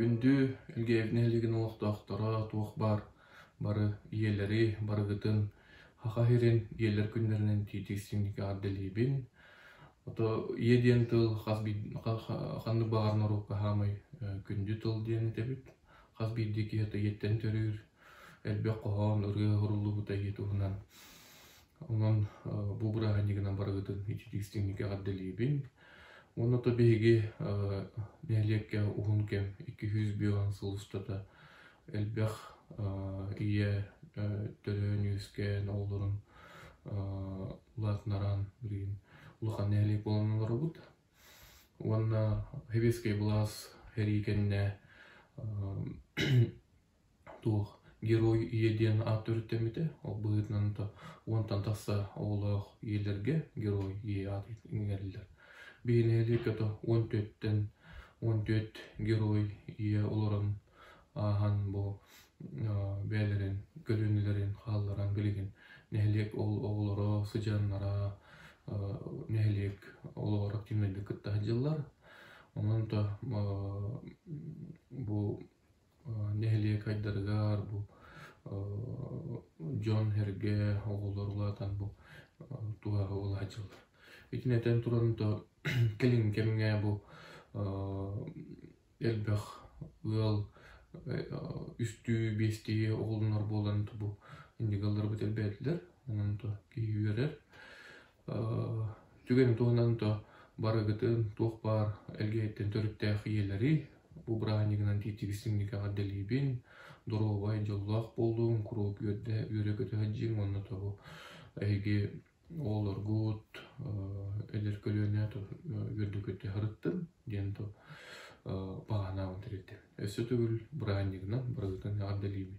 Күндү Илгээв нэһилигин олохтоохторо туох баар бары ийэлэри барыгытын Хаха иһирин ийэлэр күннэринэн тиитик симники ардэлиибин. Ото ийэ диэн тыл хас ханнык баҕар норуокка хаамай күндү тыл диэн этэбит. Хас биирдии киһи ийэттэн төрүүр, элбэх хоһоон, ырыа суруллубута ийэ туһунан. Онон бу бырааһынньыгынан барыгытын ичитиистиҥник эҕэрдэлиибин. Уонна то биһиги нэһилиэккэ уһун кэм икки сүүс биэс сыл устата элбэх ийэ төрөөн-үөскээн оҕолорун улаатынаран билигин улахан нэһилиэк буолан олоробут. Уонна Heavy-скай былаас эрии кэннэ туох Герой ийэ диэн аат төрүттэммитэ. Ол быһыытынан уонтан тахса оҕолоох ийэлэргэ Герой ийэ аат иҥэриллэр. Биһи нэһилиэккэ уон түөрттэн уон түөрт герой ийэ олорон ааһан бу бэйэлэрин көлүөнэлэрин хаалларан билигин нэһилиэк оҕолоро сыдьааннара нэһилиэк олоҕор активнайдык кыттан сылдьаллар онон-то бу нэһилиэк айдарыгар бу дьон-сэргэ оҕолор улаатан бу тууһаҕа улаһадьыллар итини этэн туран то кэлин кэмҥэ бу элбэх ыал үстүү биэстии оҕолонор буолан бу индигаларбыт элбээтилэр онон то киһи үөрэр түгэн туһунан то барыгытын туох баар элгээттэн төрүттээх ийэлэри бу бырааһынньыгынан тиитигистиҥникэҕэ дэлиибин доруобай дьоллоох буолуҥ куруук үөрдэ үөрэ көтө сылдьыҥ уонна тобу эһиги Оҕолоргут эдэр көлүөнэ үөрдүкүттэн сырыттын диэн баҕанаабын тэрилтэм өссө төгүл бырааһынньыгынан барыгытын эҕэрдэлиибин